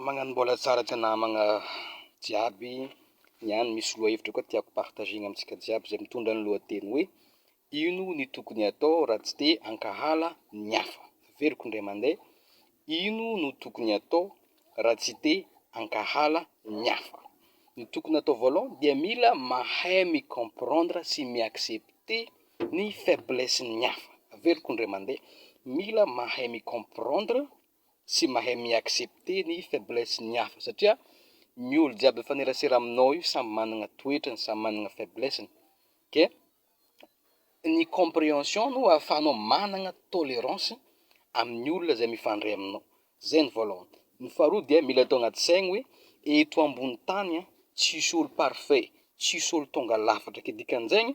Magnano mbola tsara ty namagna jiaby niany, misy lohahevitra koa tiako partagena amintsika jiaby izay mitondra ny lohateny hoe ino ny tokony atao raha tsy te hankahala ny hafa? Averiko indray mandeha, ino no tokony atao raha tsy te hankahala ny hafa? Ny tokony atao voalohany dia mila mahay mi comprendre sy mi accepter ny faiblesse ny hafa, averiko indray mandeha, mila mahay mi comprendre tsy mahay mi accepter ny faiblesse ny hafa satria ny olo jiaby mifanerasera aminao io samy managna toetrany samy managna faiblessiny ke ny comprehension no ahafahanao managna tolerance amin'ny olona zay mifandray aminao zay ny voalohany ny faharoa dia mila atao agnaty saigny hoe eto ambony tany an tsisy olo parfait tsisy olo tonga lafatra ke dikan'izegny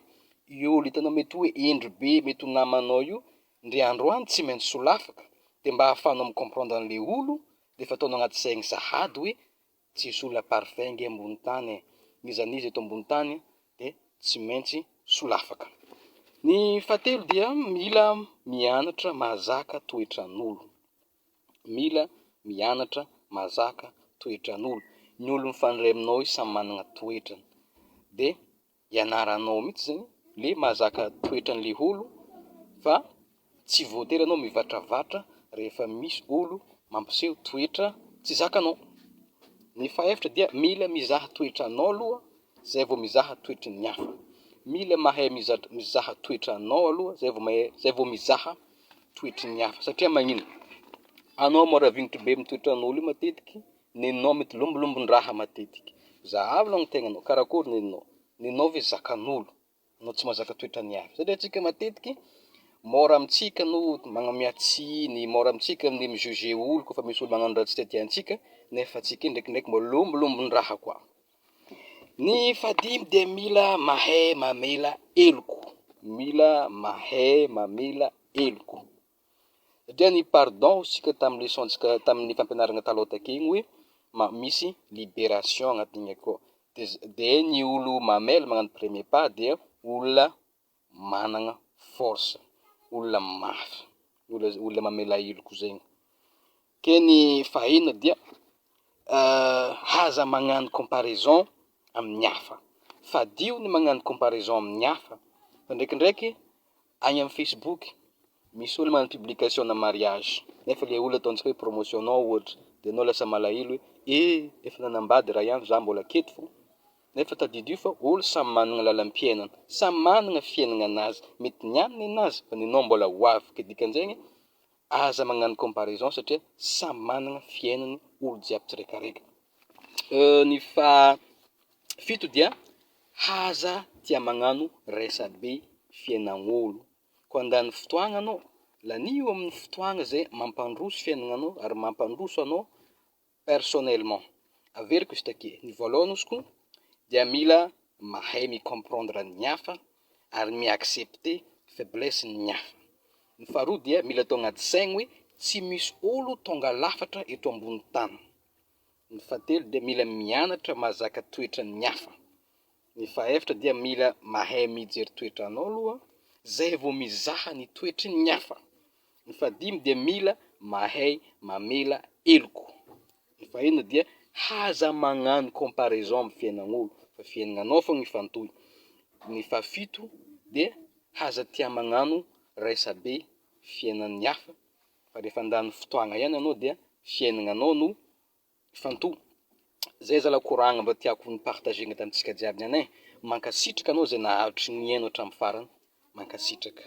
io olo itanao mety hoe hendry be mety ho namanao io Ndry androany tsy maintsy solafaka de mba ahafahanao mi comprendre anle olo de efa ataonao agnaty saigny sahady hoe tsisy olona parfait nge ambony tany e, n'iza n'iza eto ambony tany de tsy maintsy solafaka. Ny fahatelo dia mila mianatra mahazaka toetran'olo, mila mianatra mahazaka toetran'olo, ny olo mifandray aminao io samy managna toetrany de ianaranao mihitsy zany le mahazaka toetran'le olo fa tsy voatery anao mivatravatra rehefa misy olo mampiseho toetra tsy zakanao, ny fahaefatra dia mila mizaha toetranao aloha zay vao mizaha toetry ny hafa, mila mahay mizaha toetranao aloha zay vao mahay zay vao mizaha toetry ny hafa satria magnino anao moa raha vignitry be amin'ny toetran'olo io matetiky Nenao mety lombolombo-ndraha matetika. Zahavo aloha ny tegnanao, karakory nenao? Nenao ve zakan'olo? Anao tsy mahazaka toetra ny hafa. Satria antsika matetiky, mora amintsika no magnamia tsiny, mora amintsika ny mi-juger olo koa fa misy olo magnano raha tsy tiatià antsika, nefa antsika ndraikindraiky mba lombolombo-ndraha koa. Ny fahadimy dia mila mahay mamela heloko. Mila mahay mamela heloko. dia ny pardon isika tamin'ny leçon-tsika tamin'ny fampianarana taloha takeo igny hoe misy liberation agnatin'igny akao de ny olo mamela magnano premier pas dia olona managna force olona mafy olona mamela heloka zegny Teny fahenina dia Aza magnano comparaison amin'ny hafa. Fadio ny magnano comparaison amin'ny hafa fa ndraikindraiky agny amin'ny Facebook misy olo magnano publication ana mariage nefa le olo ataontsika hoe promotion anao ohatra de anao lasa malahelo hoe ee efa nanambady raha ihany za mbola aketo fô nefa tadidio fa olo samy managna lalam-piainana, samy managna fiainagnanazy, mety ny aminy ninazy fa nenao mbola ho avy, ke dikan'izegny Aza magnano comparaison satria samy managna fiainany olo jiaby tsirekareka. Ny faha fito dia haza tia magnano resabe fiainagnolo ko andany fotoagna anao, lanio aminy fotoagna zay mampandroso fiainagnanao ary mampandroso anao personnellement averiko izy takie ny voalohany ozy koa dia mila mahay mi comprendre ny hafa ary mi accepte faiblesse ny hafa ny faharoa dia mila atao anaty saigny hoe tsy misy olo tonga lafatra eto ambony tany ny fahatelo dia mila mianatra mazaka toetran'ny hafa Ny fahaefatra dia mila mahay mijery toetra anao aloha zay vao mizaha ny toetry ny hafa. Ny fahadimy dia mila mahay mamela heloka. Ny fahenina dia haza magnano comparaison amin'ny fiainagn'olo fa fiainagnanao fogna ifantohy. Ny fahafito dia haza tia magnano raisabe fiainan'ny hafa fa rehefa handany fotoagna ihany anao dia fiainagnanao no Mifantoha. Zay zalah koragna mba tiako ho partager-gna tamintsika jiaby any eh. Mankasitraka anao zay nahavitry nihaino hatramin'ny farany. Mankasitraka.